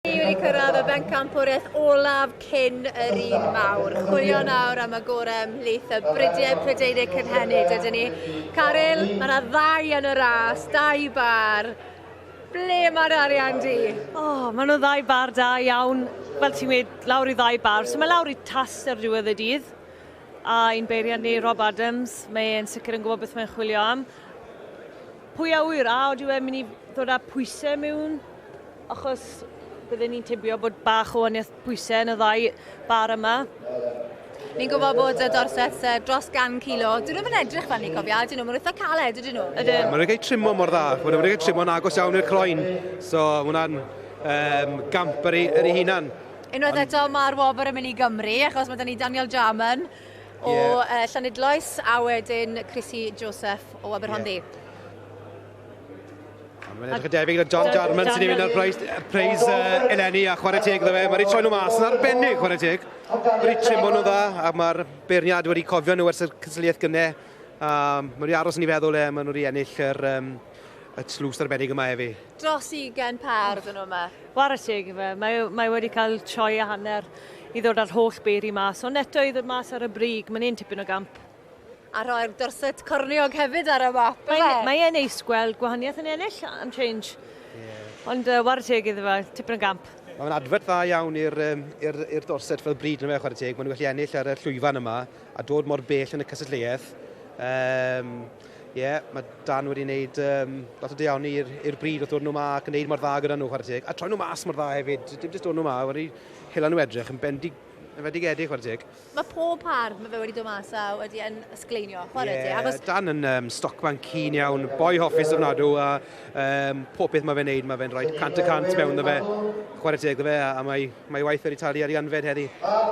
Ni wedi cyrraedd y bencampwriaeth olaf cyn yr un mawr. Chwilio nawr am y gorau ymhlith y bridiau Prydeinig cynhenid ydyn ni. Caryl, mae yna ddau yn y ras, dau bar. Ble mae'r arian di? O, oh, maen nhw ddau bar da iawn. Fel ti'n gweud, lawr i ddau bar. So mae lawr i tas ar ddiwedd y dydd. A un beiriant ni, Rob Adams, mae e'n sicr yn gwybod beth mae'n chwilio am. Pwy a wyr, a oeddi e'n mynd i ddod â pwysau mewn? Achos bydden ni'n tybio bod bach o waniaeth pwysau yn y ddau bar yma. Ni'n gwybod bod y Dorsets uh, dros gan kilo. Dyn nhw'n edrych fel ni cofio, dyn nhw, mae'n eitha caled, ydyn nhw. Ydyn. Mae'n rhaid trimo mor dda, mae'n rhaid trimo'n agos iawn i'r croen. So, mae hwnna'n um, gamp ar ei hunan. Unwaith eto, mae'r wobr yn mynd i Gymru, achos mae da ni Daniel Jarman o yeah. uh, Llanidloes, a wedyn Chrissy Joseph o Aberhonddu. Yeah. Mae'n edrych yn debyg na John Jarman sy'n ei fynd â'r preis, preis uh, eleni a chwarae teg iddo fe. Mae wedi troi nhw mas yn arbennig chwarae teg. Mae wedi trimlo nhw dda a mae'r beirniad wedi cofio nhw ers y cysylliaeth gynnau. Um, mae wedi aros yn ei feddwl e, mae nhw wedi ennill yr, um, y tlws arbennig yma efi. Dros 20 par ydyn nhw yma. Chwarae teg fe, mae, mae wedi cael troi a hanner i ddod â'r holl beiri mas. Ond eto i ddod mas ar y brig, mae'n un tipyn o gamp. A rhoi'r dorset corniog hefyd ar y map. Mae'n mae e neis gweld gwahaniaeth yn ennill am change. Yeah. Ond uh, war y teg iddo fe, tipyn o gamp. Mae'n adfod dda iawn i'r um, ir, ir dorset fel bryd yn y chwarae teg. Mae'n gallu ennill ar y llwyfan yma a dod mor bell yn y cysylltiaeth. Um, Ie, yeah, mae Dan wedi wneud um, lot o deanu i'r bryd wrth ddod nhw ma ac yn gwneud mor dda gyda nhw, chwarae teg. A troi nhw mas mor dda hefyd, dim jyst dod nhw ma, wedi hela nhw edrych yn bendig, yn fedig edrych, chwarae teg. Mae pob par mae fe wedi dod mas a wedi yn ysgleinio, chwarae yeah, ti. Achos... Dan yn um, stocman cyn iawn, boi hoffus o'r nadw, a um, pob beth mae fe'n neud, mae fe'n rhoi cant y cant mewn dda fe. Chwarae teg dda fe, a, a mae, mae waith wedi talu ar ei anfed heddi.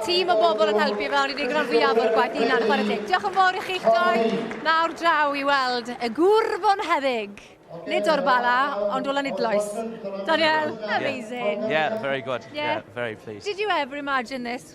Tîm o bobl yn helpu fe, ond i ddigon fwyaf o'r gwaith yna, chwarae teg. Diolch yn fawr i chi'ch doi. Nawr draw i weld y gwr fo'n heddig. Nid o'r bala, ond o Lanidloes. Daniel, amazing. Yeah, yeah very good. Yeah. yeah, very pleased. Did you ever imagine this?